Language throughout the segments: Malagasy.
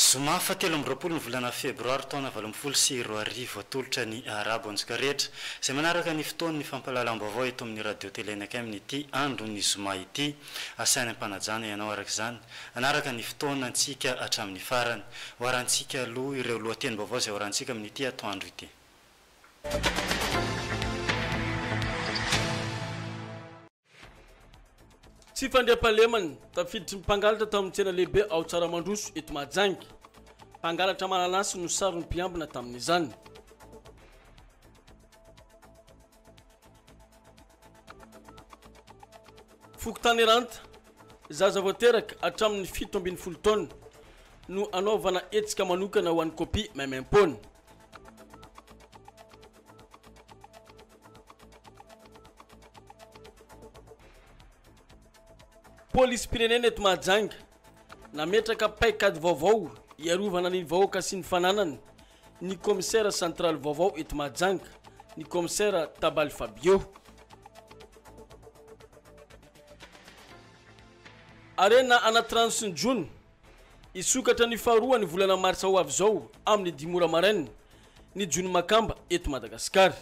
Zoma fahatelo amby roapolo ny volana febroary taona valo ambin'ny folo sy roa arivo atolotra ny Arabo antsika rehetra izay manaraka ny fotoan'ny fampahalalam-baovao eto amin'ny Radio Tele Nacem n'ity andron'ny zoma ity. Asainy am-panajana ianao araka izany hanaraka ny fotoana antsika hatramin'ny farany. Hoarantsika aloha ireo lohatenim-baovao izay hoarantsika amin'ity atoandro ity. Tsy fandriampahalemana, tafiditry ny mpangalatra tao amin'ny tsena lehibe ao Tsaramandroso, eto Mahajanga. Mpangalatra mananasy no saron'ny mpiambina tamin'izany. Fokontany Ranta, zaza vao teraka hatramin'ny fito ambin'ny folo taona no hanaovana hetsika manokana ho an'ny kopia maimaim-poana. Polisim-pirenena eto Mahajanga nametraka paikady vaovao hiarovana ny vahoaka sy ny fananany ny kaomisera centraly vaovao eto Mahajanga, ny kaomisera Tabaly Fabio. Harena anaty rano sy ny jono Hisokatra ny faharoa ny volana martsa ho avy izao amin'ny dimy ora maraina ny jono makamba eto Madagasikara.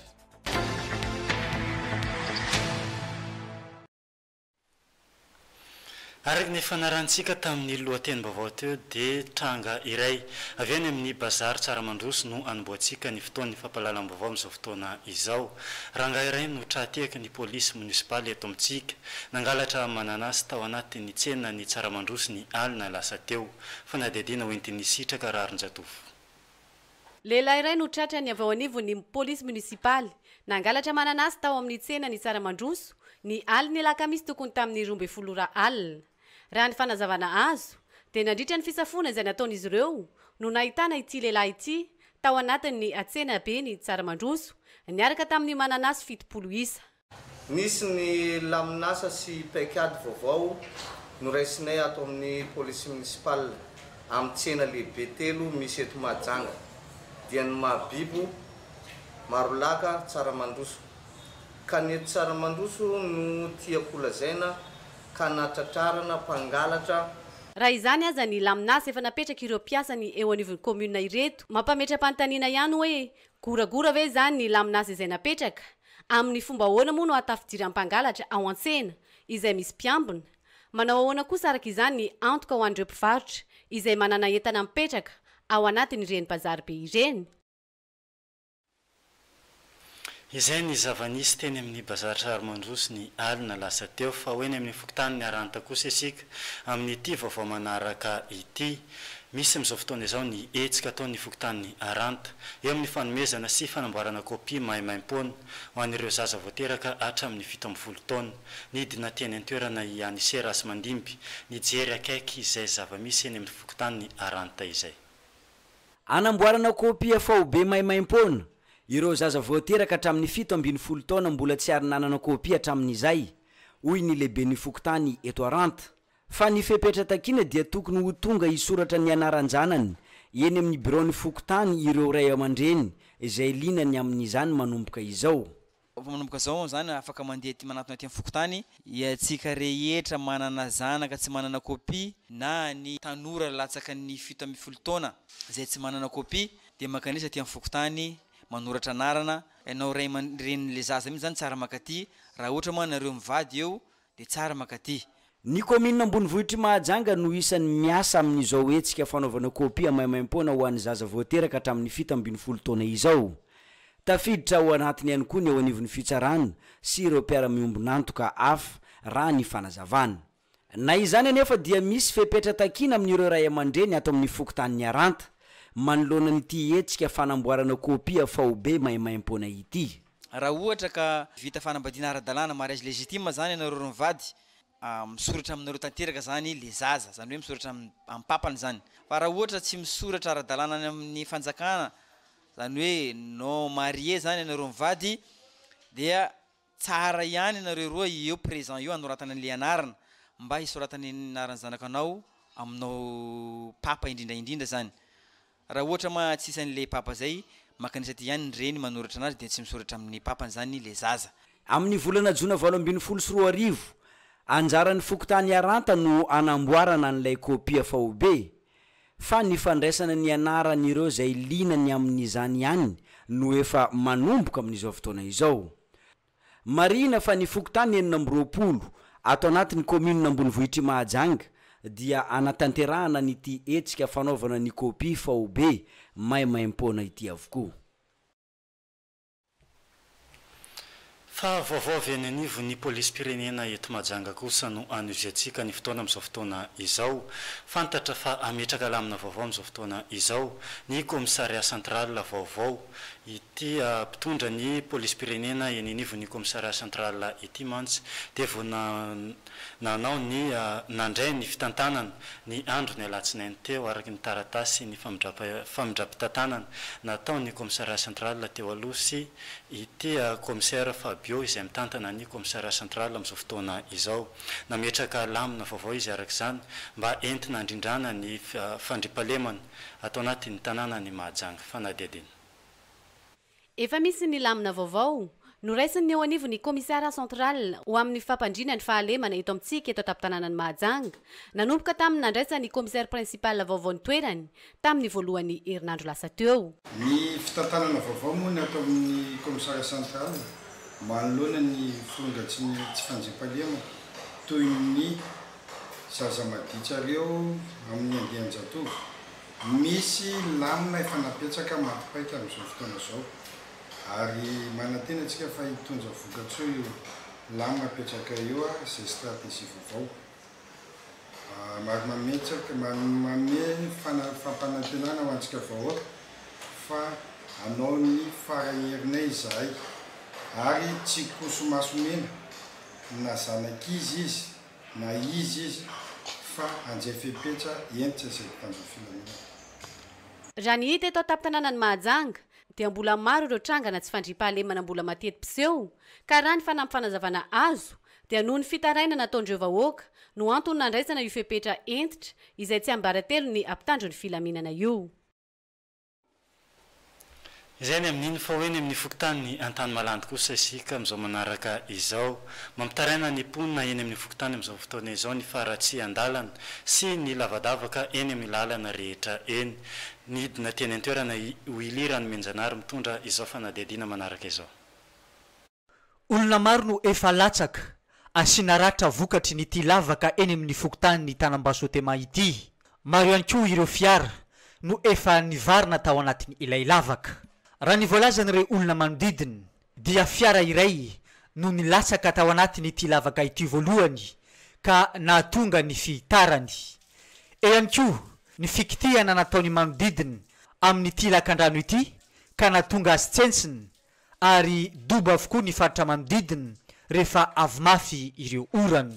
Araka ny efa narahintsika tamin'ny lohatenim-baovao teo dia tranga iray avy any amin'ny Bazary Tsaramandroso no anombohantsika ny fotoan'ny fampahalalam-baovao amin'izao fotoana izao. Rangahy iray no tra-tehaky ny polisy monisipaly eto amintsika. Nangalatra mananasy tao anatin'ny tsenan'ny Tsaramandroso ny alina lasa teo. Fanadihadiana ho entin'ny sitraka rarin-jatovo. Lehilahy iray no tratrany avy ao anivon'ny polisy monisipaly. Nangalatra mananasy tao amin'ny tsenan'ny Tsaramandroso ny alin'ny alakamisy tokony tamin'ny roa ambin'ny folo ora alina. Raha ny fanazavana azo dia nandritra ny fisafoana izay nataon'izy ireo no nahitana ity lehilahy ity tao anatin'ny tsenaben'i Tsaramandroso niaraka tamin'ny mananasy fitopolo isa. Nisy ny lamin'asa sy paikady vaovao noraisinay ato amin'ny Police Municipale amin'ny tsena lehibe telo misy eto Mahajanga dia ny Mahabibo, Marolaka, Tsaramandroso. Ka ny eto Tsaramandroso no tiako holazaina ka natratrarana mpangalatra. Raha izany aza ny lamin'asa efa napetraka ireo mpiasany eo anivon'ny Commune ireto. Mampametra-panontaniana ihany hoe, goragora ve izany ny lamin'asa izay napetraka? Amin'ny fomba ahoana moa no hahatafidiry ampangalatra ao an-tsena izay misy mpiambina? Manao ahoana kosa araka izany ny antoka ho an'ireo mpivarotra izay manana entana mipetraka ao anatin'ireny bazary be ireny? Izay ny zava-nisy teny amin'ny bazary sary mandroso ny alina lasa teo, fa ho eny amin'ny fokontany Miaranta kosa isika amin'ity vaovao manaraka ity. Misy amin'izao fotoana izao ny hetsika ataon'ny fokontany Aranta, eo amin'ny fanomezana sy fanamboarana kopia maimaimpoana, ho an'ireo zaza vao teraka hatramin'ny fito ambin'ny folo taona. Nidina teny an-toerana i Anise Rasimandimby, nijery akaiky izay zava-misy eny amin'ny fokontany Aranta izay. Hanamboarana kopia faobe maimaimpoana, ireo zaza vao teraka hatramin'ny fito ambin'ny folo taona mbola tsy ary nanana kopia hatramin'izay, hoy ny lehiben'ny fokontany eto Aranta, Fa ny fepetra takiana dia tokony ho tonga hisoratra ny anaran-janany eny amin'ny biraon'ny fokontany ireo ray aman-dreny izay liana ny amin'izany manomboka izao. Efa manomboka izao izany, afaka mandeha aty manatona aty amin'ny fokontany iantsika rehetra manana zanaka tsy manana kopia na ny tanora latsaka ny fito ambin'ny folo taona izay tsy manana kopia dia mankanesa aty amin'ny fokontany manoratra anarana ianao ray aman-drenin'ilay zaza mihitsy izany tsara mankaty raha ohatra moa ianareo mivady eo dia tsara mankaty. Ny kaominina ambonivohitr'i Mahajanga no isan'ny miasa amin'izao hetsika fanaovana kopia maimaimpoana ho an'ny zaza voateraka hatramin'ny fito ambin'ny folo taona izao. Tafiditra ao anatiny ihany koa ny eo anivon'ny fitsarana sy ireo mpiara-miombon'antoka hafa, raha ny fanazavana. Na izany anefa dia misy fepetra takiana amin'ireo ray aman-dreny ato amin'ny fokontany Niaranta, manoloana an'ity hetsika fanamboarana kopia faobe maimaimpoana ity. Raha ohatra ka vita fanambadiana ara-dalàna, mariage légitime, zany ianareo roa mivady, misoratra aminareo tanteraka zany le zaza, zany hoe misoratra amin'ny papany zany. Fa raha ohatra tsy misoratra ara-dalàna any amin'ny fanjakana, zany hoe non marié zany ianareo mivady, dia tsara ihany ianareo roa eo présent eo anoratana an'le anarana, mba hisoratana ny anaran'ny zanaka anao aminao papa indrindra indrindra zany. Raha ohatra ma tsy isan le papa zay makanisa ty ihany ny reny manoratra anazy dia tsy misoratra amin ny papany zany le zaza. Amin ny volana jona valo ambin'ny folo sy roa arivo, anjaran ny fokontany Iaranta no hanamboarana an ilay kopia faobe, fa ny fandraisana ny anaran ireo izay liana ny amin izany ihany no efa manomboka amin izao fotoana izao. Marihina fa ny fokontany enina amby roapolo ato anatin'ny kaominina ambonivohitr'i Mahajanga dia hanatanterahana an'ity hetsika fanaovana ny kopia faobe maimaim-poana ity avokoa. Fa vaovao avy any anivon'ny polisim-pirenena eto Mahajanga kosa no hanohiziantsika ny fotoana amin'izao fotoana izao. Fantatra fa hametraka lamina vaovao amin'izao fotoana izao ny Commissariat central vaovao. Ity mpitondra ny polisim-pirenena eny anivon'ny commissariat central ity mantsy dia vao nanao ny nandray ny fitantanana ny andron'ny alatsinainy teo araka ny taratasy ny famindram-pitantanana nataon'ny commissariat central teo aloha sy ity commissaire Fabio izay mitantana ny commissariat central amin'izao fotoana izao. Nametraka lamina vaovao izy araka izany mba entina handrindrana ny fandriampahalemana ato anatin'ny tanànan'i Mahajanga fanadihadiana. Efa misy ny lamina vaovao noraisin'ny eo anivon'ny Commissariat central ho amin'ny fampandriana ny fahalemana eto amintsika eto an-tampon-tanànan'i Mahajanga, nanomboka tamin'ny nandraisan'ny Commissaire principal vaovao ny toerany tamin'ny voalohan'ny herinandro lasa teo. Ny fitantanana vaovao moa ny ato amin'ny Commissariat central manoloana ny firongatry ny tsy fanjifaliana toy ny. Zaza maditsareo amin'ny andian-jatovo. Misy lamina efa nampetsaka maty paika amin'izao fotoana izao ary manantena antsika fa hitondra vokatsoa io lamina apetraka io izay stratégie vaovao marimametsaka manome fampanantenana ho antsika vahoaka fa hanao ny fara herinay izahay ary tsy koso maso mena na zanak'iza izy na izy izy fa anjay fepetra entitra izay mpitandro filaminana. Raha ny hita eto an-tampon-tanànan'i Mahajanga dia mbola maro ireo trangana tsy fandriampahalemana mbola mateti-piseho ka raha ny fanampy fanazavana azo dia noho ny fitarainana ataon'ireo vahoaka no antony nandraisana io fepetra entitra izay tsiambaratelo ny mpitandro ny filaminana io. Izay any amin'iny fa ho eny amin'ny fokontany Antanimalandy kosa isika amin'izao manaraka izao. Mampitaraina ny mponina eny amin'ny fokontany amin'izao fotoana izao ny faharatsian-dalana sy ny lavadavaka eny amin'ny lalana rehetra eny. Nidina teny an-toerana i Willy Ranomenjanahary mitondra izao fanadihadiana manaraka izao. Olona maro no efa latsaka, asiana ratra vokatry ny ity lavaka eny amin'ny fokontany Tanambasotema ity. Maro ihany koa ireo fiara no efa nivarina tao anatin' ilay lavaka. Raha ny voalazan'ireo olona manodidina dia fiara iray no nilatsaka tao anatin' ity lavaka ity voalohany ka nahatonga ny fihitarany. Eo ihany koa ny fikitihana nataon'ny manodidina amin'ity lakandrano ity ka nahatonga azy tsentsina ary dobo avokoa ny faritra manodidina rehefa avy mafy ireo orana.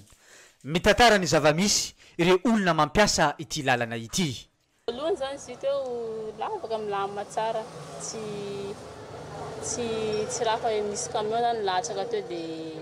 Mitantara ny zava-misy ireo olona mampiasa ity lalana ity. Voalohany izany izy io teo lavaka milamina tsara tsy tsy tsy raha fa misy camion zany latsaka teo dia.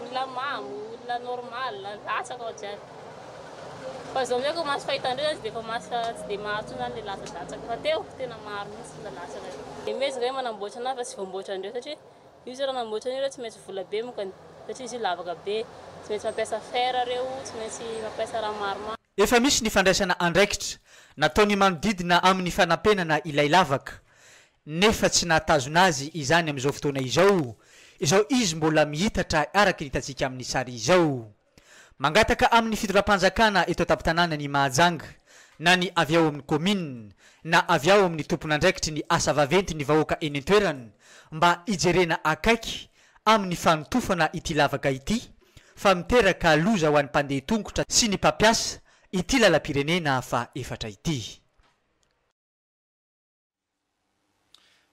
Olona mamo, olona normal, latsaka ao jiaby. Fa zao amizao ko maso fahitan-dreo zany tsy de efa maso tsy de maro tsony zany le latsa-datsaka fa teo tena maro mintsy le latsaka reo. De mihezaka hoe manamboatra anazy fa tsy voamboatra an-dreo satria io zao ra manamboatra an'io reo tsy maintsy vola be mokany satria izy io lavaka be, tsy maintsy mampiasa fer reo, tsy maintsy mampiasa raha maromaro. Efa misy ny fandraisana andraikitra nataon'ny manodidina amin'ny fanampenana ilay lavaka, nefa tsy nahatazona azy izany amin'izao fotoana izao, izao izy mbola mihitatra araka ny hitantsika amin'ny sary izao. Mangataka amin'ny fitondram-panjakana eto an-tampon-tanàna ny Mahajanga, na ny avy ao amin'ny kaominina, na avy ao amin'ny tompon'andraikitry ny asa vaventy ny vahoaka eny an-toerana, mba hijerena akaiky amin'ny fanotofana ity lavaka ity fa miteraka loza ho an'ny mpandeha tongotra sy ny mpampiasa ity lalam-pirenena faha efatra ity.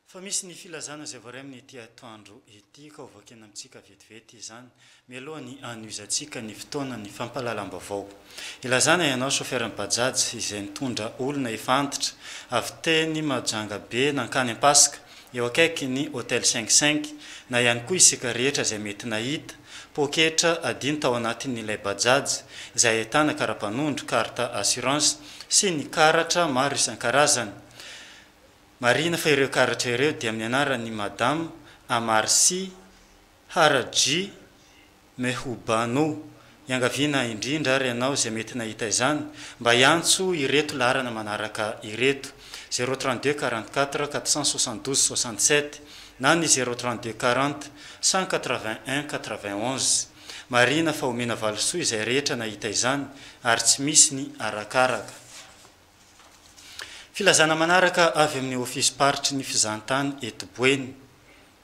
Fa misy ny filazana izay voaray amin'ity atoandro ity ka ho vakina amintsika vetivety izany mialoha ny hanohizantsika ny fotoanan'ny fampahalalam-baovao. Ilazana ianao chauffeur-n'ny Bajaj izay nitondra olona efa antitra avy teny Mahajanga be nankany Ampaska, eo akaikin'ny Hotel Cinq Cinq, na ihany koa isika rehetra izay mety nahita, poketra adino tao anatin'ilay Bajaj, izay ahitana kara-panondro, carte assurance, sy ny karatra maro isan-karazany. Marihina fa ireo karatra ireo dia amin'ny anaran'i Madame Amarsi Haraji Mehubanu, iangaviana indrindra ary ianao izay mety nahita izany, mba hiantso ireto laharana manaraka ireto, zéro trente deux quarante quatre quatre cent soixante douze soixante sept na ny zéro trente deux quarante cent quatre vingt un quatre vingt onze. Marihina fa omena valisoa izay rehetra nahita izany ary tsy misy ny arakaraka. Filazana manaraka avy amin'ny ofisim-paritry ny fizahantany eto Boeny.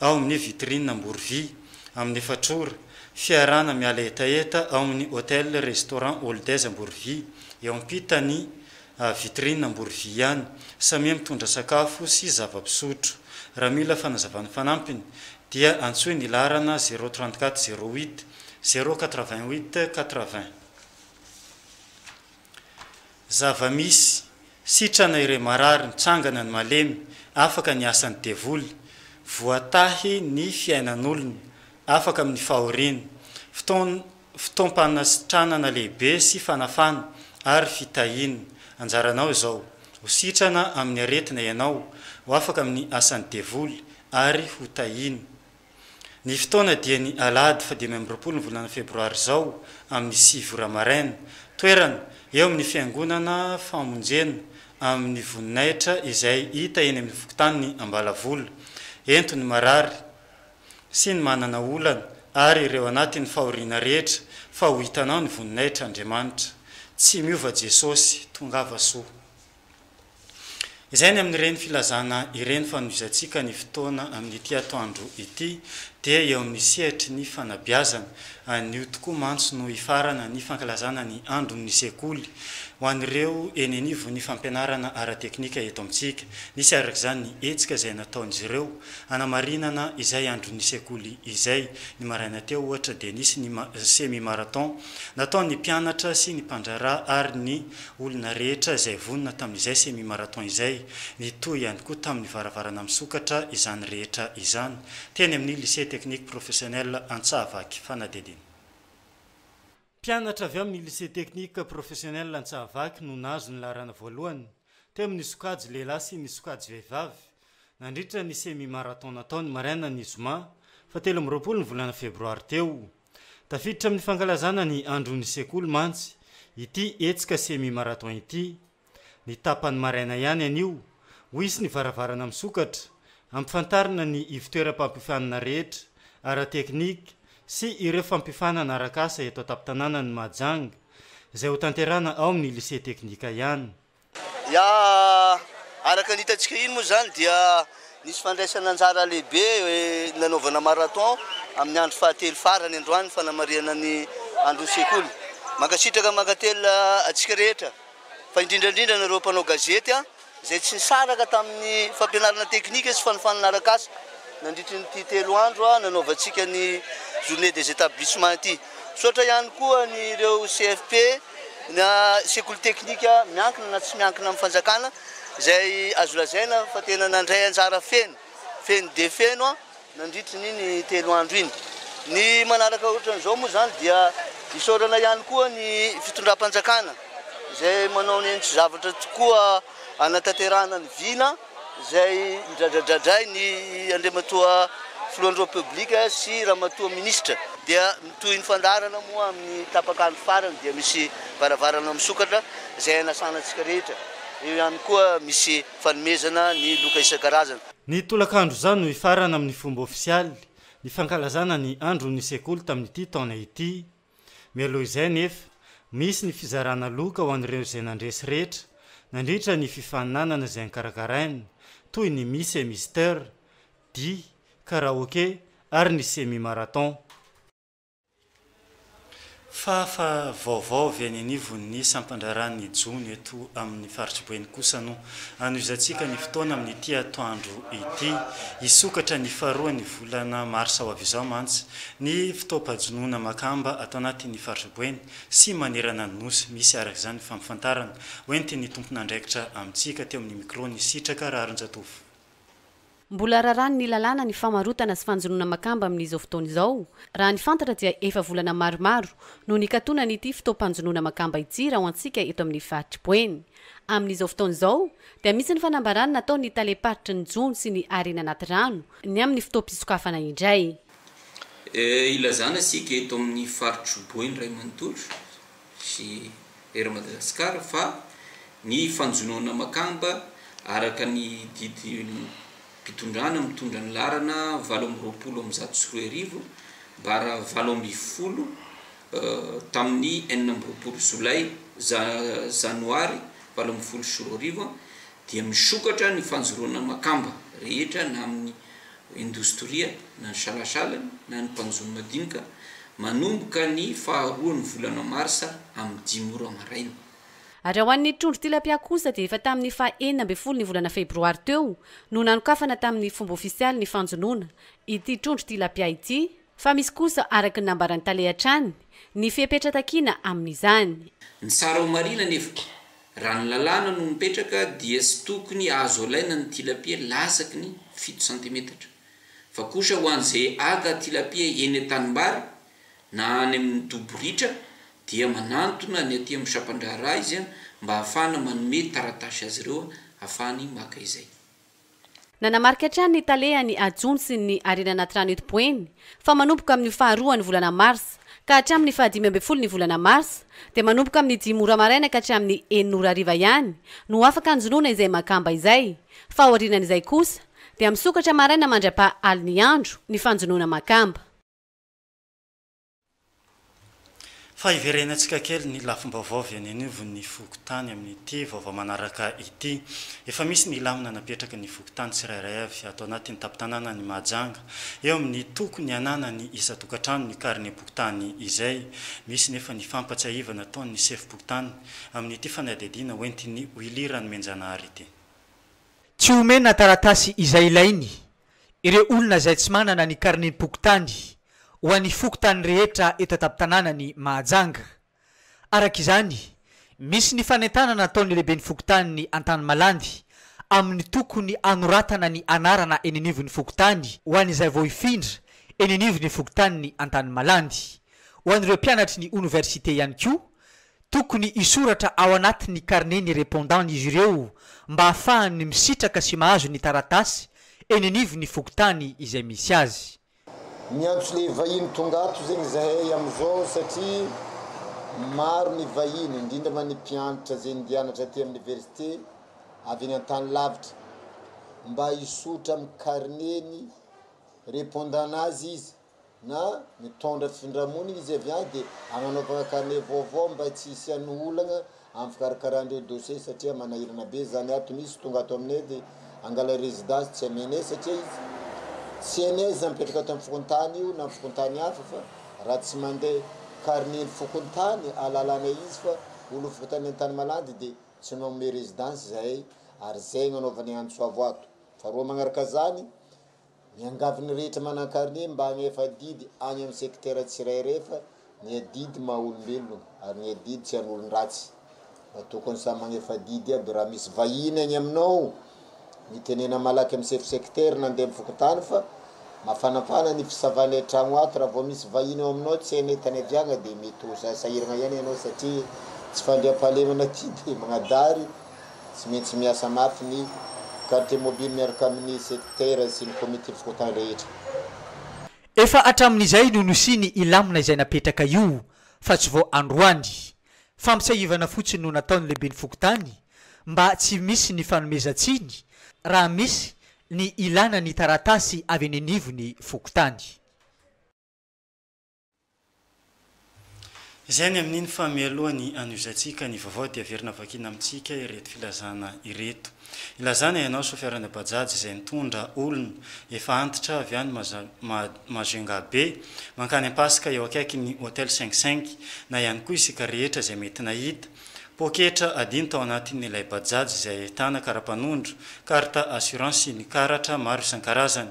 ao amin'ny Vitrine Amborovy, amin'ny efatr'ora, fiarahana miala hetaheta ao amin'ny Hotel Restaurant Oldes Amborovy, eo ampitan'ny Vitrine Amborovy ihany, samia mitondra sakafo sy zava-pisotro. Raha mila fanazavana fanampiny dia antsoy ny laharana zéro trente quatre zéro huit zéro quatre vingt huit quatre vingt. Zava-misy, sitrana ireo marary mitsangana ny malemy, afaka ny asan'ny devoly, voatahy ny fiainan'olona, afaka amin'ny fahoriana, fotoan fotoam-panasitranana lehibe sy fanafana ary fitahiana. Anjaranao izao, ho sitrana amin'ny aretina ianao, ho afaka amin'ny asan'ny devoly ary ho tahiana. Ny fotoana dia ny alahady fahadimy amby roapolo ny volana febroary izao amin'ny sivy ora maraina. Toerana, eo amin'ny fiangonana famonjena amin'ny voninahitra izay hita eny amin'ny fokontanin'i Ambalavola. Ento ny marary sy ny manana olana ary ireo anatin'ny fahoriana rehetra fa ho hitanao ny voninahitr'Andriamanitra. Tsy miova Jesosy. Tongava soa. Izay ny amin'ireny filazana ireny fanohizantsika ny fotoana amin'ity atoandro ity dia eo amin'ny sehatry ny fanabeazana. Anio tokoa mantsy no hifarana ny fankalazana ny andron'ny sekoly ho an'ireo eny anivon'ny fampianarana ara-teknika eto amintsika. Nisy araka izany ny hetsika izay nataon'izy ireo hanamarinana izay andron'ny sekoly izay. Ny maraina teo ohatra dia nisy ny semi-marathon nataon'ny mpianatra sy ny mpandraharaha ary ny Olona rehetra izay vonona tamin'izay semi marathon izay, nitohy ihany koa tamin'ny varavarana misokatra izany rehetra izany, teny amin'ny Lycée Technique Professionnel Antsahavaky Fanadihadiana. Mpianatra avy amin'ny Lycée Technique Professionnel Antsahavaky no nahazo ny laharana voalohany, teo amin'ny sokajy lehilahy sy ny sokajy vehivavy, nandritra ny semi marathon natao ny marainan' ny zoma fahatelo amby roapolo ny volana febroary teo. Tafiditra amin'ny fankalazana ny andron'ny sekoly mantsy ity hetsika semi-marathon ity. Ny tapany maraina ihany anio, ho hisy ny varavarana misokatra, hampifantarina ny ivontoeram-pampiofanana rehetra ara-teknika sy ireo fampiofanana arak'asa eto an-tampon-tanànan'i Mahajanga, izay hotanterahana ao amin'ny Lycée Teknika ihany. Ya, araka ny hitantsika iny moa izany dia nisy fandraisana anjara lehibe nanaovana marathon amin'ny andro fahatelo farany androany ny fanamarihana ny andron'ny sekoly. Mankasitraka mankatelina antsika rehetra fa indrindra indrindra anareo mpanao gazety izay tsy nisaraka tamin'ny fampianarana teknika sy fanofanana arak'asa nandritry ny ity telo andro nanaovantsika ny journée des établissements ity. Misaotra ihany koa an'ireo CFP na sekoly teknika miankina na tsy miankina amin'ny fanjakana izay azo lazaina fa tena nandray anjara feno feno dia feno nandritry ny iny telo andro iny. Ny manaraka ohatran'izao moa izany dia isaorana ihany koa ny fitondram-panjakana izay manao ny hainy sy zavatra tokoa hanatanterahana ny vina. izay nidradradradray ny Andriamatoa Filohan'ny Repoblika sy Ramatoa Minisitra. Dia mitohy ny fandaharana moa amin'ny tapak'andro farany dia misy varavarana misokatra izay hanasana antsika rehetra. Eo ihany koa misy fanomezana ny loka isan-karazany. Ny tolakandro izao no hifarana amin'ny fomba ofisialy ny fankalazana ny andron'ny sekoly tamin'ity taona ity. Mialoha izay anefa, misy ny fizarana loka ho an'ireo izay nandresy rehetra nandritra ny fifaninanana izay nokarakaraina, toy ny Miss et Mister, dihy, karaoke ary ny semi marathon. Fahafa vaovao avy any anivon'ny sampandraharahan'ny jono eto amin'ny faritr'i Boeny kosa no Hanohizantsika ny fotoana amin'ity atoandro ity. Hisokatra ny faharoan'ny volana marsa ho avy izao mantsy ny fotoam-pahajonoana makamba ato anatin'ny faritra Boeny sy manerana ny Nosy. Misy araka izany ny fampafantarana hoentin'ny tompon'andraikitra amintsika teo amin'ny micro-n'i Sitraka Raharinjatovo. Mbola raràn'ny lalàna ny famarotana sy fanjonoana makamba amin'izao fotoana izao. Raha ny fantatra dia efa volana maromaro no nikatonan'ity fotoam-panjonoana makamba ity raha ho antsika eto amin'ny faritr'i Boeny. Amin'izao fotoana izao dia misy ny fanambaràna nataon'ny talem-paritry ny jono sy ny harena anaty rano ny amin'ny fotoam-pisokafana indray. Ilazana isika eto amin'ny faritr'i Boeny iray manontolo sy Air Madagascar fa ny fanjonoana makamba araka ny didim-pitondrana mitondra ny laharana valo amby roapolo amby zato sy roa arivo bara valo amby folo tamin'ny enina amby roapolo jolay ja janoary valo ambin'ny folo sy roa arivo dia misokatra ny fanjoroana makamba rehetra na amin'ny indostria na ny salasala na ny mpanjono madinika manomboka ny faharoan'ny volana marsa amin'ny dimy ora maraina. Ary ho an'ny trondro tilapia kosa dia efa tamin'ny faha enina ambin'ny folo ny volana febroary teo no nanokafana tamin'ny fomba ofisialy ny fanjonoana ity trondro tilapia ity fa misy kosa araka ny nambaran'ny tale hatrany ny fepetra takiana amin'izany. Ny tsara ho marihina anefa Raha ny lalàna no mipetraka dia tsy tokony azo alaina ny tilapia lasaky ny fito santimetatra, fa kosa ho an'izay haka tilapia eny an-tanimbary na any amin'ny dobo ritra dia manantona ny aty amin'ny sampan-draharaha izy mba hahafahana manome taratasy azy ireo hahafahany maka izay. Nanamarika hatrany ny tale an'i Ajun sy ny Harena Anaty Rano eto Boeny, fa manomboka amin'ny faharoa ny volana marsa ka hatramin'ny fahadimy ambin'ny folo ny volana marsa, dia manomboka amin'ny dimy ora maraina ka hatramin'ny enina ora hariva ihany no afaka hanjonoana izay makamba izay, fa aorianan'izay kosa dia misokatra maraina mandra-paha alin'ny andro ny fanjonoana makamba. Fa hiverenantsika kely ny lafim-baovao avy any anivon'ny fokontany amin'ity vaovao manaraka ity. Efa misy ny lamina napetraky ny fokontany tsirairay avy ato anatin'ny tampon-tanànan'i Mahajanga, eo amin'ny tokony hananan'ny isan-tokantrano ny karinem-pokontany izay. Misy nefa ny fampahatsiahivana ataon'ny sefom-pokontany amin'ity fanadihadiana hoentin'i Willy Ranomenjanahary ity. Tsy omena taratasy izay ilainy Ireo olona izay tsy manana ny karnem-pokontany ho an'ny fokontany rehetra eto an-tampon-tanànan'i Mahajanga. Araka izany, misy ny fanentanana ataon'ny lehiben'ny fokontanin'i Antanimalandy amin'ny tokony hanoratana ny anarana eny anivon'ny fokontany ho an'izay vao hifindra eny anivon'ny fokontanin'i Antanimalandy. Ho an'ireo mpianatry ny oniversite ihany koa Tokony hisoratra ao anatin'ny carnet ny répondant izy ireo mba hahafahany misitraka sy mahazo ny taratasy eny anivon'ny fokontany izay misy azy. Miantso le vahiny tonga ato zegny zahay amizao satria maro ny vahiny indrindra ma ny mpiantra ze ndianatra aty am niversite avy any antany lavitra mba hisotra am carnet ny répondant nazy izy na mitondra findramony izy avy any dia agnanaovagna carnet vaovao mba tsy hisian'ny olagna amin'ny fikarakaran-dreo dossier satria manahirana be zany ato misy tonga ato aminay de angala residence tsy amenay satria izy tsy hainay izy mipetraka ato amin'ny fokontany io na amin'ny fokontany hafa fa raha tsy mandeha carnet ny fokontany alalanay izy fa olo fokontany Antanimalandy de tsy manome residence zahay ary zay agnanaovanay antso avo ato fa reo magnaraka zany Miangavy ny rehetra manan-karine mba hagnefa adidy any amin'ny sekitera tsirairay fa ny adidy maha olombelona ary ny adidy tsy an'olon-dratsy. Mba tokony samy magnefa adidy aby raha misy vahiny any aminao. Mitenena malaky amin'ny sefo sekitera na ndeha mifokontany fa mafanafana ny fisavana an-tragno ato. Raha vao misy vahiny ao aminao tsy hainao tany aviagna dia mety ho sahiragna ihany ianao satria tsy fandriampahalemana ty dia magnadary Tsy maintsy miasa mafy ny Quartier Mobile miaraka amin'ny Sekitera sy ny Komity Fokontany rehetra. Efa hatramin'izay no nosiany ilamina izay napetraka io fa tsy vao androany. Fampitsiahivana fotsiny no nataon'ny Lehiben'ny Fokontany mba tsy misy ny fanomezan-tsiny raha misy ny ilana ny taratasy avy eny anivon'ny Fokontany. Izay ny amin'iny fa mialohan'ny hanohizantsika ny vaovao dia averina vakiana amintsika ireto filazana ireto. Ilazana ianao sofiarana bajaj izay nitondra olona efa antitra avy any Majunga be mankany Ampasika eo akaikin'ny Hotel Cinq Cinq na ihany koa isika rehetra izay mety nahita poketra adino tao anatin'ilay bajaj izay ahitana karapanondro, carte assurance sy ny karatra maro isan-karazany.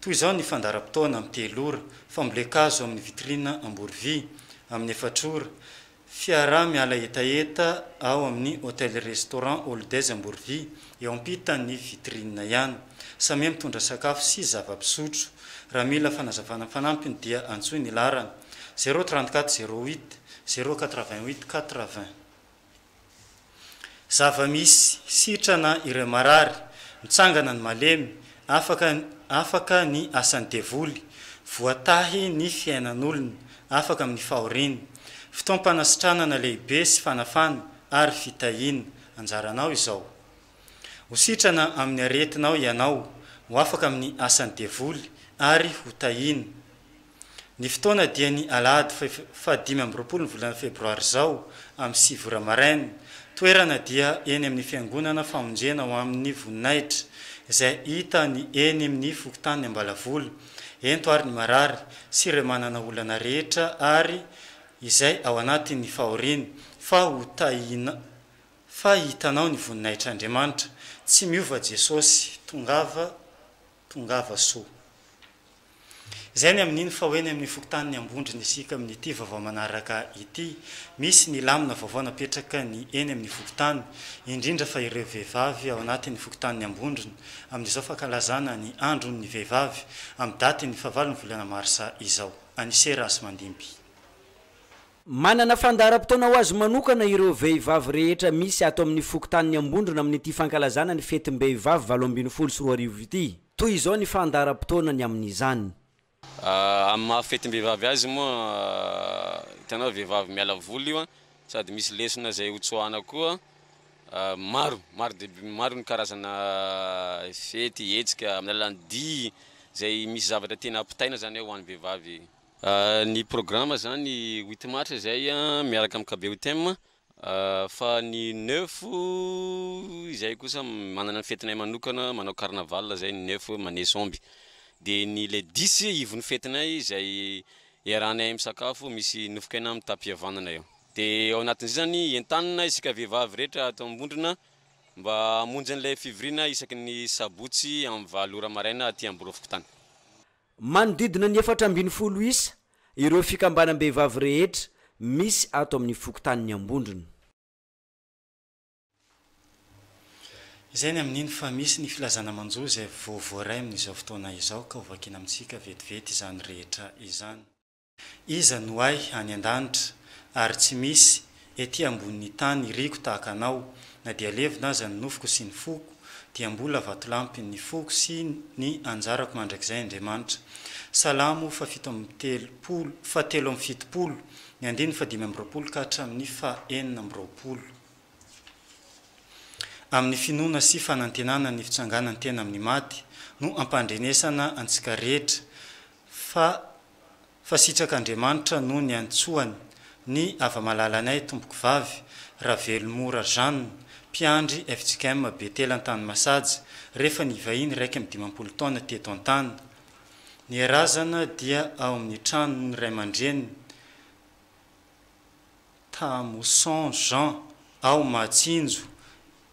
Toy izao ny fandaharam-potoana, amin'ny telo ora, fambolen-kazo amin'ny vitrine Amborovy, amin'ny efatra ora, fiaraha-miala hetaheta ao amin'ny Hotel Restaurant All Days Amborovy, eo ampitan'ny vitrine ihany. Samia mitondra sakafo sy zava-pisotro. Raha mila fanazavana fanampiny dia antsoy ny laharana, zéro trente-quatre zéro huit, zéro quatre-vingt-huit quatre-vingts. Zava-misy sitrana ireo marary, mitsangana ny malemy, afaka afaka ny asan'ny devoly, voatahy ny fiainan'olona, afaka amin'ny fahoriana. Fotoam-panasitranana lehibe sy fanafana ary fitahiana. Anjaranao izao. Ho sitrana amin'ny aretinao ianao, ho afaka amin'ny asan'ny devoly, ary ho tahina. Ny fotoana dia ny alahady faha dimy amby roapolo ny volana febroary izao amin'ny sivy ora maraina. Toerana dia eny amin'ny fiangonana famonjena ho amin'ny voninahitra izay hita ny eny amin'ny fokontanin'ny Ambalavola. Ento ary ny marary sy ireo manana olana rehetra ary izay ao anatin'ny fahoriana fa ho tahina fa hitanao ny voninahitr'Andriamanitra. Tsy miova Jesosy. Tongava Tongava soa. Izay ny amin'iny fa ho eny amin'ny fokontanin'i Ambondrona isika amin'ity vaovao manaraka ity. Misy ny lamina vaovao napetraka ny eny amin'ny fokontany, indrindra fa ireo vehivavy ao anatin'ny fokontanin'i Ambondrona, amin'izao fankalazana ny andron'ny vehivavy, amin'ny datin'ny fahavalon'ny volana marsa izao. Anise Rahasimandimby. Manana fandaharam-potoana ho azy manokana ireo vehivavy rehetra misy ato amin'ny fokontanin'i Ambondrona amin'ity fankalazana ny fetim-behivavy valo ambin'ny folo sy roa arivo ity. Toy izao ny fandaharam-potoanany amin'izany. Amin'ny maha fetim-behivavy azy moa, hitanao vehivavy miala voly io sady misy lesona izay ho tsoahana koa. Maro, maro dia maro ny karazana fety, hetsika amin'ny alalan'ny dihy izay misy zavatra tiana ampitaina izany ao ho an'ny vehivavy. Ny programa izany huit mars izay miaraka amin'ny KBUTM fa ny neuf izay kosa manana ny fetinay manokana manao carnaval izay ny neuf maneso omby dia ny le dix ivon'ny fetinay izay iarahanay misakafo misy nofon-kena amin'ny tapis havanana eo dia ao anatin'izay izany entanina isika vehivavy rehetra ato Ambondrona mba hamonjy an'ilay fivoriana isaky ny sabotsy amin'ny valo ora maraina aty Amborofokotany. Manodidina ny efatra ambin'ny folo isa ireo fikambanam-behivavy rehetra misy ato amin'ny fokontanin'i Ambondrona. Izay ny amin'iny fa misy ny filazana manjo izay vao voaray amin'izao fotoana izao ka hovakiana amintsika vetivety izany rehetra izany. Iza no hay any an-danitra, ary tsy misy ety ambonin'ny tany iriko tahaka anao, na dia levona aza ny nofoko sy ny foko, dia mbola vatolampy ny foko sy ny anjarako mandrakizay Andriamanitra. Salamo fahafito amby telopolo, fahatelo amby fitopolo, ny andininy fahadimy amby roapolo ka hatramin'ny fahenina amby roapolo. Amin'ny finoana sy fanantenana ny fitsanganan-tena amin'ny maty no ampandrenesana antsika rehetra, fa fa sitraka Andriamanitra no niantsoany ny hava-malalanay tompoko vavy Ravelomora Jeanne, mpiandry fjkm Betela Antanimasaja, rehefa nivahiny iraika amby dimampolo taona teto an-tany. Ny herazana dia ao amin'ny tranon'ny ray aman-dreniny, Tamoson Jean, ao Mahatsinjo.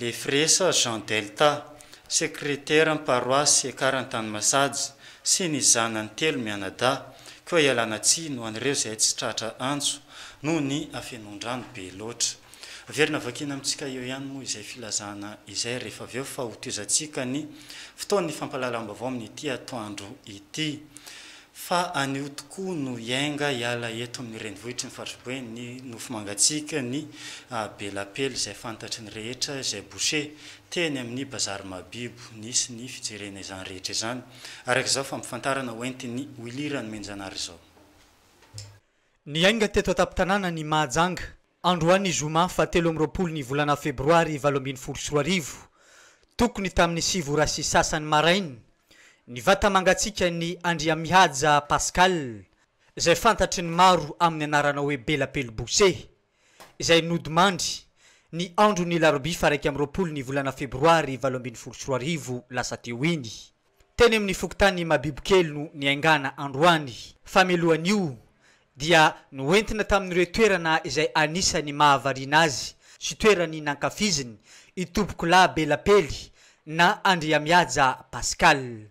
Lefresa Jean Delta, Sekreteran'ny Paroasy Ekarany tany Masajy, sy ny zanany telo mianadahy, koa ialana tsiny ho an'ireo izay tsy tratra antso noho ny hafenoan-drano be loatra. Averina vakiana amintsika eo ihany moa izay filazana izay rehefa avy eo fa hotohizantsika ny fotoan'ny fampahalalam-baovao amin'ity atoandro ity. Fa anio tokoa no hiainga hiala eto amin'ny renivohitry ny faritry Boeny ny nofo mangatsiaka, ny be lapely izay fantatry ny rehetra, izay boucher, teny amin'ny bazary Mahabibo. Nisy ny fijerena izany rehetra izany, araka izao fampifantarana hoentin'i Willy Ranomenjanara izao. Niainga teto an-tampon-tanàna ny Mahajanga. Androany zoma faha telo amby roapolo ny volana febroary valo ambin'ny folo sy roa arivo, tokony tamin'ny sivy ora sy sasany maraina, ny vata mangatsiakan'i Andriamihaja Pascal, izay fantatry ny maro amin'ny anarana hoe Bela Pelobose, izay nodimandry, ny andron'ny larobia faha iraika amby roapolo ny volana febroary valo ambin'ny folo sy roa arivo lasa teo iny. Teny amin'ny fokontany Mabibokely no niaingàna androany. Famelohan'io dia noentina tamin'ireo toerana izay anisan'ny mahavariana azy sy toerany nankafiziny Itompokolahy Belapely na Andriamihaja Pascal.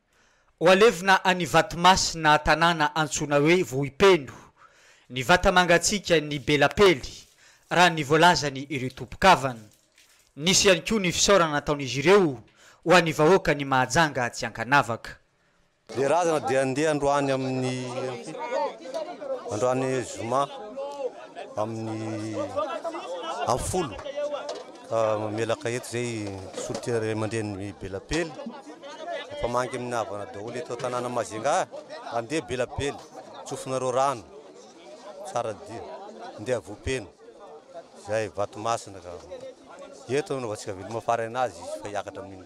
Ho alevina any Ivatomasina tanàna antsoina hoe Vohipeno, ny vata mangatsiaka ny be lapely, raha ny voalazany ireo tompon-kavana. Nisy ihany koa ny fisaorana nataon'izy ireo ho an'ny vahoakan'i Mahajanga tsy an-kanavaka. Ny razana dia handeha androany amin'ny androany zoma amin'ny amin'ny folo Mamelaka eto izay solontenan'ny ray aman-dreniny Belapely. Efa mangy amin'ny havana daholo eto an-tanàna Majunga. Andeha Belapely, tsofinareo rano, Tsaradia, andeha Vohipeno, izay Vatomasina ka. Eto no anaovantsika veloma faraina azy izy fa hiakatra amin'iny.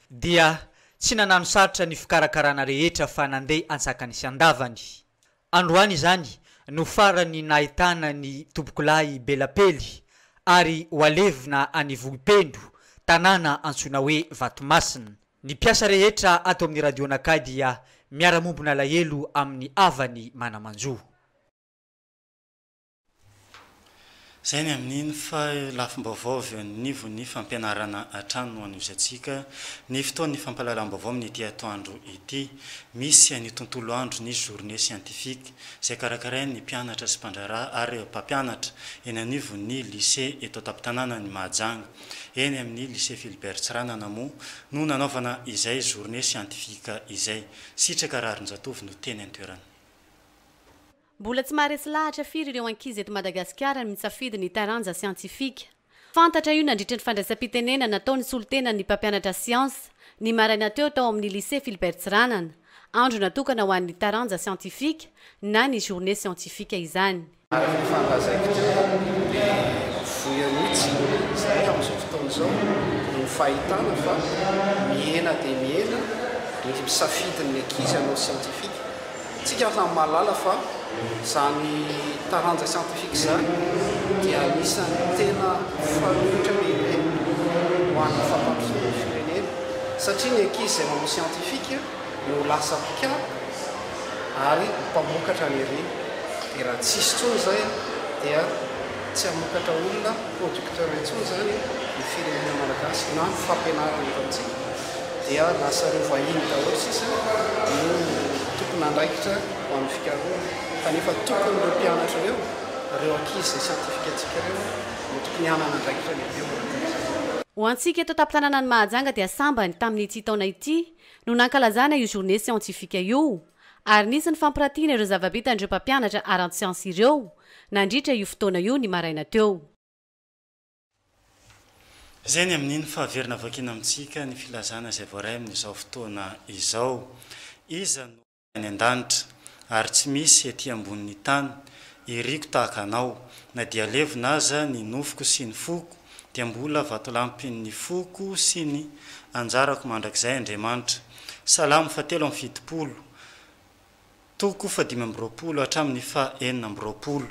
dia tsy nanano sarotra ny fikarakarana rehetra fa nandeha antsakany sy andavany. Androany izany no farany nahitana ny tompokolahy be lapely ary ho alevina any Vohipendo, tanàna antsoina hoe Vatomasina. Ny mpiasa rehetra ato amin'ny Radionakay dia miara-mombon'alahelo amin'ny havany mana-manjo. Izay ny amin'iny fa lafim-baovao avy eo anivon'ny fampianarana hatrany no anohizantsika ny fotoan'ny fampahalalam-baovao amin'ity atoandro ity. Misy ny tontolo andro ny Journée scientifique izay karakarain'ny mpianatra sy mpandraharaha ary mpampianatra eny anivon'ny Lycée eto an-tampon-tanànan'i Mahajanga. Eny amin'ny Lycée Philibert Tsiranana moa no nanaovana izay Journée scientifique izay. Sitraka Raharinjatovo no teny an-toerana. Mbola tsy maharesy lahatra firy ireo ankizy eto Madagasikara ny misafidy ny taranja siantifika. Fantatra io nandritra ny fandraisam-pitenena natao ny solontena ny mpampianatra siansa, ny maraina teo tao amin'ny Lycée Philbert Tsiranana. Andro natokana ho an'ny taranja siantifika na ny Journée scientifique izany. Araka ny fahandazaiko dia ny voya mihitsy izay amin'izao fotoana izao no fahitana fa mihena dia mihena ny misafidy ny ankizy hanao siantifika. Isika samy mahalala fa izany taranja siantifika izany dia anisan'ny tena fanoitra lehibe ho an'ny fampandrosoana ny firenena satria ny ankizy izay manao siantifika no lasa mpikambana ary mpamokatra ny harena dia raha tsisy intsony izay dia tsy hamokatra olona producteur intsony izany ny firenena malagasy na ny fampianarana eto amintsika. dia lasa ireo vahiny daholo sisa no tompon'andraikitra ho an'ny fikarohana kanefa tokony ireo mpianatra ireo, ireo ankizy izay siantifikantsika ireo no tokony hanana andraikitra lehibe eo anatin'izany. Ho antsika eto an-tampon-tanàna ny Mahajanga dia sambany tamin'ity taona ity no nankalazana io journée scientifique io ary nisy ny fampirantiana ireo zava-bitan'ireo mpampianatra ara-tsiansa ireo nandritra io fotoana io ny maraina teo. Izay ny amin'iny fa very navoakina amintsika ny filazana izay voaray amin'izao fotoana izao. Iza no any an-danitra ary tsy misy ety ambonin'ny tany iriko tahaka anao, na dia levona aza ny nofoko sy ny foko dia mbola vatolampin'ny foko sy ny anjarako mandrakizay Andriamanitra. Salamo fa telo amby fitopolo, toko fahadimy amby roapolo hatramin'ny faha enina amby roapolo.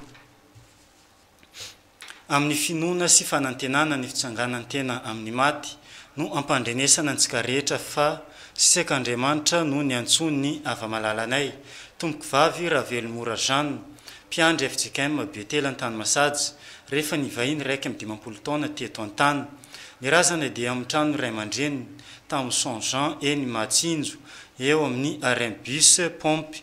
Amin'ny finoana sy fanantenana ny fitsanganan-tena amin'ny maty no ampandrenesana antsika rehetra fa Sisek'Andriamanitra no niantsoan'ny Ava-malalanay, Tompokovavy Ravelomora Jeanne, mpiandry fjkm Betela Antanimasajy, rehefa nivahiny iraika amby dimampolo taona teto an-tany. Ny razana dia amin'ny tranon'ny ray aman-dreniny, tao amin'ny Son Jean eny Mahatsinjo, eo amin'ny arrêt bus, pompe,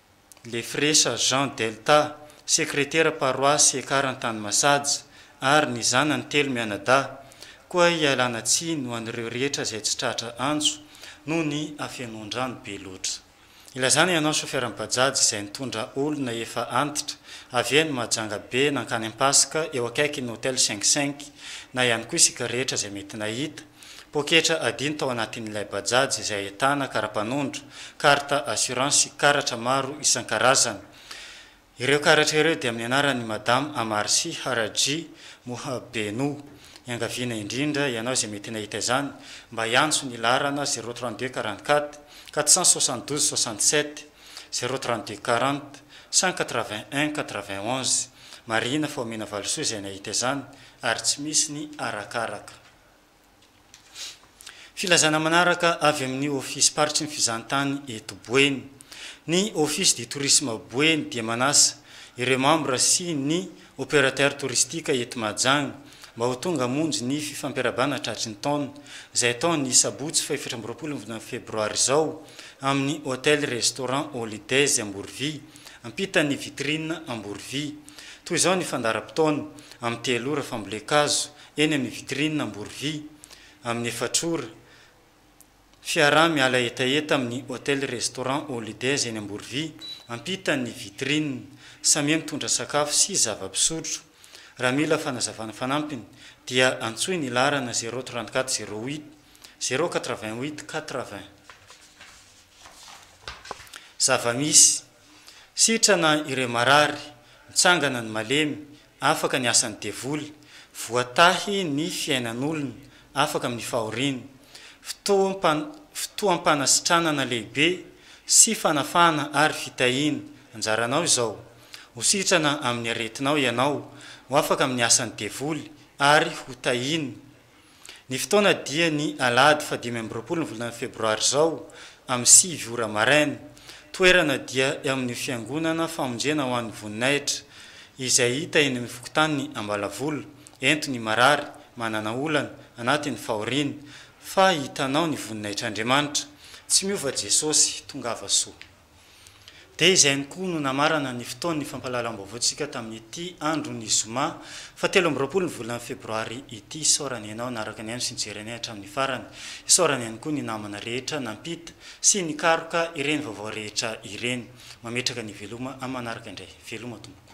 Lefresa Jean Delta, sekretera paroasy Ekara Antanimasads, ary ny zanany telo mianadahy, koa ialana tsiny ho an'ireo rehetra izay tsy tratra antso noho ny hafenoan-drano be loatra. Ilazana ianao chauffeur Bajaj izay nitondra olona efa antitra avy eny Mahajanga be nankany Ampasika eo akaikin'ny Hotel Cinq Cinq na ihany koa isika rehetra izay mety nahita Poketra adino tao anatin'ilay Bajaj izay ahitana kara-panondro, carte assurance sy karatra maro isan-karazany. Ireo karatra ireo dia amin'ny anaran'i Madame Amarsi Haraji Muhabenu. Iangaviana indrindra ianao izay mety nahita izany mba hiantso ny laharana zéro trente deux quarante quatre quatre cent soixante douze soixante sept, zéro trente deux quarante cent quatre vingt un quatre vingt onze. Marihina fa omena valisoa izay nahita izany ary tsy misy ny arakaraka. Filazana manaraka avy amin'ny Ofisim-paritry ny Fizahantany eto Boeny. Ny Office du Tourisme Boeny dia manasa ireo mambra sy ny opérateur touristique eto Mahajanga mba ho tonga hamonjy ny fifampiarabana tratry ny taona izay atao ny sabotsy fahefatra amby roapolo volana febroary izao amin'ny Hotel Restaurant Holidays Amborovia ampitan'ny Vitrine Amborovia. Toy izao ny fandaharam-potoana, amin'ny telo ora fambolen-kazo, eny amin'ny vitrine Amborovy, amin'ny efatr'ora. Fiaraha miala hetaheta amin'ny Hotel Restaurant Holidays eny Amborovy, ampitan'ny vitrine. Samia mitondra sakafo sy zava-pisotro. Raha mila fanazavana fanampiny dia antsoy ny laharana zéro trente quatre zéro huit zéro quatre vingt huit quatre vingt. Zava-misy. Sitrana ireo marary, mitsangana ny malemy, afaka ny asan'ny devoly, voatahy ny fiainan'olona, afaka amin'ny fahoriana. Fotoam-pan, fotoam-panasitranana lehibe sy fanafahana ary fitahiana, anjaranao izao. Ho sitrana amin'ny aretinao ianao, ho afaka amin'ny asan'ny devoly ary ho tahiana. Ny fotoana dia ny alahady fahadimy amby roapolo ny volana febroary izao amin'ny sivy ora maraina. Toerana dia eo amin'io fiangonana famonjena ho an'ny voninahitra izay hita eny amin'ny fokontanin'i Ambalavola. Ento ny marary, manana olana, anatin'ny fahoriana, fa hitanao ny voninahitr'Andriamanitra. Tsy miova Jesosy. Tongava soa. Dia izay ihany koa no namarana ny fotoan'ny fampahalalam-baovaontsika tamin'ity andron'ny zoma fahatelo amby roapolo ny volana febroary ity. Isaorana ianao naraka anay sy nijery anay hatramin'ny farany. Isaorana ihany koa ny namana rehetra nampita sy nikaroka ireny vaovao rehetra ireny. Mametraka ny veloma amin'ny manaraka indray. Veloma tompoko.